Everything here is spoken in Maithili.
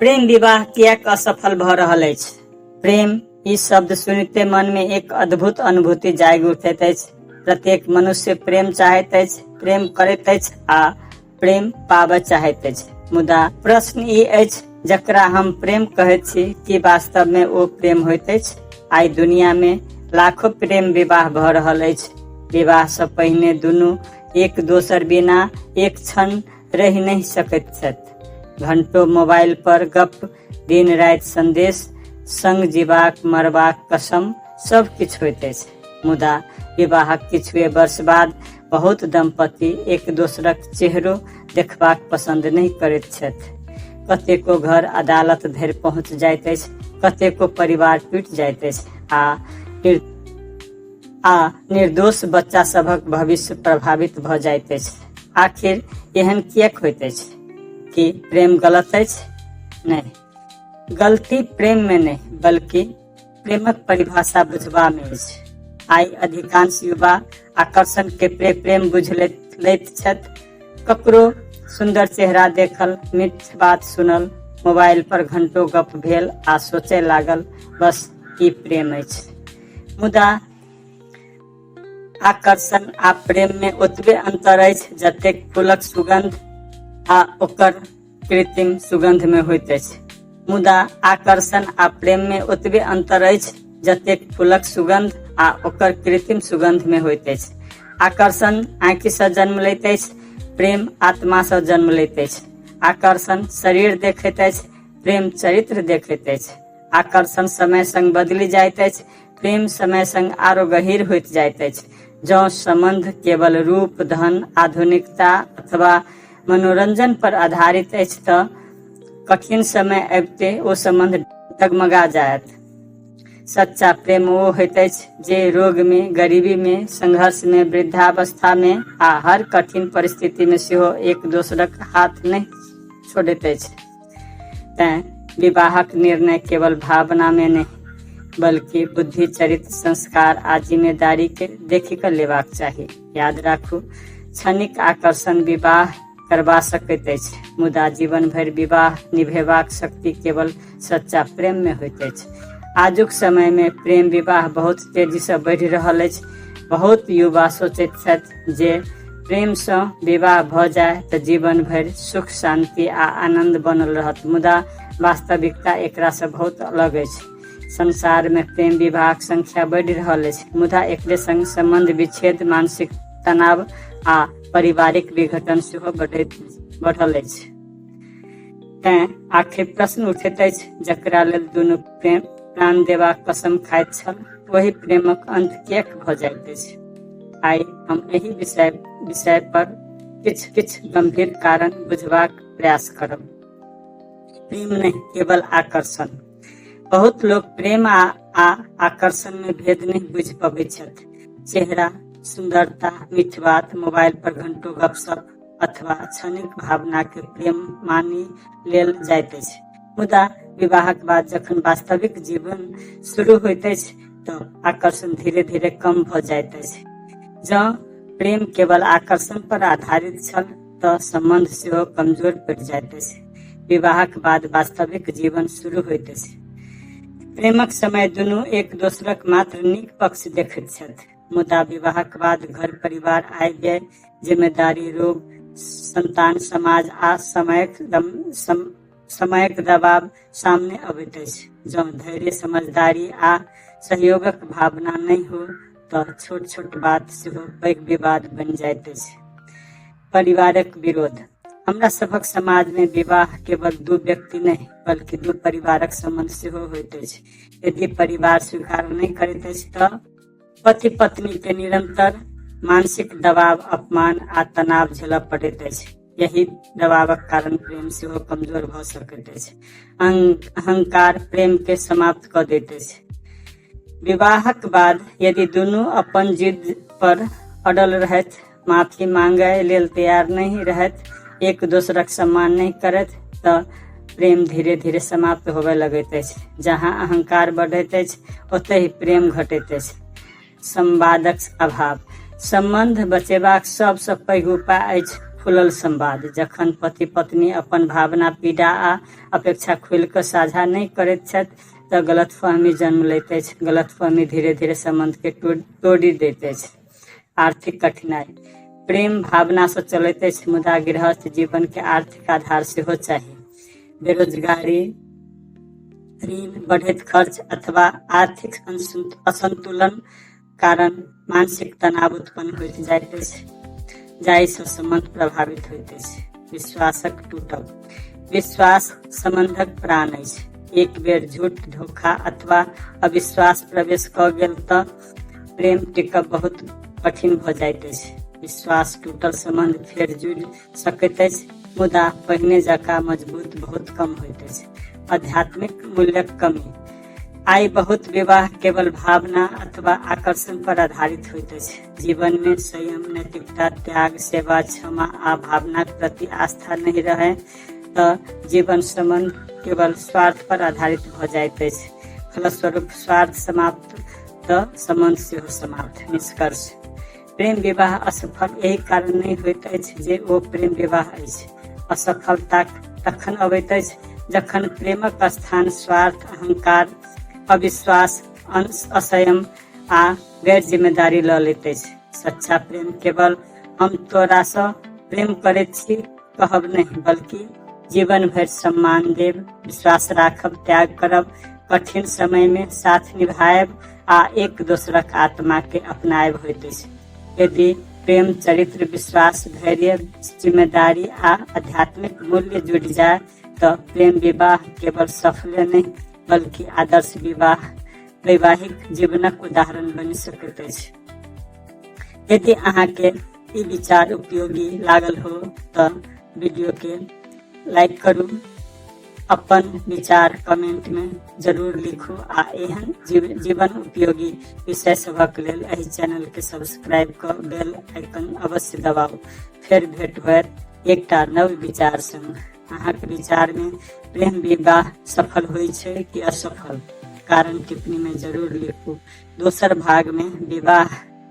प्रेम विवाह किएक असफल भऽ रहल अछि प्रेम ई शब्द सुनिते मन में एक अद्भुत अनुभूति जागि उठैत अछि प्रत्येक मनुष्य प्रेम चाहैत अछि प्रेम करैत अछि आ प्रेम पाबय चाहैत अछि मुदा प्रश्न ई अछि जकरा हम प्रेम कहैत छी कि वास्तव में ओ प्रेम होइत अछि आइ दुनिया में लाखो प्रेम विवाह भऽ रहल अछि विवाह से पहिने दुनू एक दोसर बिना एक क्षण रहि नहि सकैत छथि घंटो मोबाइल पर गप दिन राति संदेश संग जीवाक मरबाक कसम सब किछु होइत अछि मुदा विवाहक किछुए वर्ष बाद बहुत दंपति एक दोसरक चेहरो देखबाक पसंद नहि करैत छथि कतेको घर अदालत धरि पहुंच जाइत अछि कतेको परिवार टूटि जाइत अछि आ आ निर्दोष बच्चा सभक भविष्य प्रभावित भ जाइत अछि आखिर एहन किएक होइत अछि कि प्रेम गलत अछि नहि गलती प्रेम में नहीं बल्कि प्रेमक परिभाषा बुझबा में अछि आइ अधिकांश युवा आकर्षण के प्रे प्रेम बुझ लैत लैत छथि ककरो सुंदर चेहरा देखल मीठ बात सुनल मोबाइल पर घंटो गप भेल आ सोचे लागल बस ई प्रेम अछि मुदा आकर्षण आ प्रेम में ओतबे अंतर अछि जतेक फूलक सुगंध आ ओकर कृत्रिम सुगंध में होइत अछि मुदा आकर्षण आ प्रेम में ओतबे अंतर अछि जतेक फूलक सुगंध आ ओकर कृत्रिम सुगंध में होइत अछि आकर्षण आँखि से जन्म लैत अछि प्रेम आत्मा से जन्म लैत अछि आकर्षण शरीर देखैत अछि प्रेम चरित्र देखैत अछि आकर्षण समय संग बदलि जाइत अछि प्रेम समय संग आरो गहिर होइत जाइत अछि जँ सम्बन्ध केवल रूप धन आधुनिकता अथवा मनोरंजन पर आधारित अछि तऽ कठिन समय अबिते ओ सम्बन्ध डगमगा जायत सच्चा प्रेम ओ होइत अछि जे रोग मे गरीबी मे संघर्ष मे वृद्धावस्था मे आ हर कठिन परिस्थिति मे सेहो एक दोसरक हाथ नहि छोड़ैत अछि तैं विवाहक निर्णय केवल भावना में नहीं बल्कि बुद्धि चरित्र संस्कार आ जिम्मेदारी के देखि कऽ लेबाक चाही याद राखू क्षणिक आकर्षण विवाह करबा सकैत अछि मुदा जीवन भरि विवाह निभेबाक शक्ति केवल सच्चा प्रेम में होइत अछि आजुक समय में प्रेम विवाह बहुत तेजी से बढ़ि रहल अछि बहुत युवा सोचैत छथि जे प्रेमसँ विवाह भऽ जाय तऽ जीवन भरि सुख शान्ति आ आनन्द बनल रहत मुदा वास्तविकता एकरासँ बहुत अलग अछि संसारमे प्रेम विवाहक संख्या बढ़ि रहल अछि मुदा एकरे संग सम्बन्ध विच्छेद मानसिक तनाव आ पारिवारिक विघटन सेहो बढ़ैत बढ़ल अछि तैं आखिर प्रश्न उठैत अछि जकरा लेल दुनू प्रेम प्राण देबाक कसम खाइत छल वही प्रेमक अंत किएक भऽ जाइत अछि आइ हम एहि विषय विषय पर किछु किछु गंभीर कारण बुझबाक प्रयास करब प्रेम नहि केवल आकर्षण बहुत लोग प्रेम आ, आ आकर्षण में भेद नहीं बुझ पबैत छथि चेहरा सुंदरता मीठ बात मोबाइल पर घंटों गपशप अथवा क्षणिक भावना के प्रेम मानि लेल जाइत अछि मुदा विवाहक बाद जखन वास्तविक जीवन शुरू होइत अछि तऽ आकर्षण धीरे धीरे कम भऽ जाइत अछि जँ प्रेम केवल आकर्षण पर आधारित छल तऽ संबंध सेहो कमजोर पड़ि जाइत अछि विवाहक बाद वास्तविक जीवन शुरू होइत अछि प्रेमक समय दुनू एक दोसरक मात्र नीक पक्ष देखैत छथि मुदा विवाहक बाद घर परिवार आबि गेल जिम्मेदारी रोग संतान समाज आ समयक सम, समयक दबाव सामने अबैत अछि जँ धैर्य समझदारी आ सहयोगक भावना नहि हो तऽ छोट छोट बात सेहो पैघ विवाद बनि जाइत अछि परिवारक विरोध हमरा सभक समाज में विवाह केवल दू व्यक्ति नहीं बल्कि दू परिवारक संबंध सेहो होइत अछि यदि परिवार स्वीकार नहीं करैत अछि तऽ पति पत्नी के निरंतर मानसिक दबाव अपमान आ तनाव झेलऽ पड़ैत अछि यही दबावक कारण प्रेम सेहो कमजोर भऽ सकैत अछि अहं- अहंकार प्रेम के समाप्त कऽ दैत अछि विवाहक बाद यदि दुनू अपन जिद पर अड़ल रहथि माफी मांगय लेल तैयार नहि रहथि एक दोसरक सम्मान नहि करथि तऽ प्रेम धीरे धीरे समाप्त होबय लगैत अछि जहाँ अहंकार बढ़ैत अछि ओतहि प्रेम घटैत अछि संवादक अभाव सम्बन्ध बचेबाक सबसँ पैघ उपाय अछि खुलल संवाद जखन पति पत्नी अपन भावना पीड़ा आ अपेक्षा खुलि कऽ साझा नहि करैत छथि तऽ गलतफहमी जन्म लैत अछि गलतफहमी धीरे धीरे सम्बन्धके तोड़ि दैत अछि आर्थिक कठिनाई प्रेम भावना से चलते अछि मुदा गृहस्थ जीवन के आर्थिक आधार सेहो चाही बेरोजगारी ऋण बढ़ैत खर्च अथवा आर्थिक असंतु- असंतुलन कारण मानसिक तनाव उत्पन्न होइत जाइत अछि जाहिसँ सम्बन्ध प्रभावित होइत अछि विश्वासक टूटब विश्वास सम्बन्धक प्राण अछि एक बेर झूठ धोखा अथवा अविश्वास प्रवेश कऽ गेल तऽ प्रेम टिकब बहुत कठिन भऽ जाइत अछि विश्वास टूटल संबंध फेर जुड़ि सकैत अछि मुदा पहिने जकाँ मजबूत बहुत कम होइत अछि आध्यात्मिक मूल्यक कमी आइ बहुत विवाह केवल भावना अथवा आकर्षण पर आधारित होइत अछि जीवन में संयम नैतिकता त्याग सेवा क्षमा आ भावनाक प्रति आस्था नहीं रहे तऽ जीवन श्रमण केवल स्वार्थ पर आधारित भऽ जाइत अछि फलस्वरूप स्वार्थ समाप्त तऽ सम्बन्ध सेहो समाप्त निष्कर्ष प्रेम विवाह असफल एहि कारण नहि होइत अछि जे ओ प्रेम विवाह अछि असफलता तखन अबैत अछि जखन प्रेमक स्थान स्वार्थ अहंकार अविश्वास असयम आ गैर जिम्मेदारी लऽ लैत अछि सच्चा प्रेम केवल हम तोरासँ प्रेम करैत छी कहब नहीं बल्कि जीवन भर सम्मान देव विश्वास राखब त्याग करब कठिन समय में साथ निभाएब आ एक दोसरक आत्मा के अपनाएब होइत अछि यदि प्रेम चरित्र विश्वास धैर्य जिम्मेदारी आ आध्यात्मिक मूल्य जुड़ जाए तो प्रेम विवाह केवल सफल नहीं बल्कि आदर्श विवाह वैवाहिक जीवनक उदाहरण बनि सकैत अछि यदि अहाँके ई विचार उपयोगी लागल हो तऽ वीडियो के लाइक करू अपन विचार कमेंट मे जरूर लिखू आ एहन जीव- जीवन उपयोगी विषय सभक लेल एहि चैनल के सब्सक्राइब कऽ बेल आइकन अवश्य दबाउ फेर भेट होयत एकटा नव विचार संग अहाँके विचार मे प्रेम विवाह सफल होइ छै कि असफल कारण टिप्पणी मे जरूर लिखू दोसर भाग मे विवाह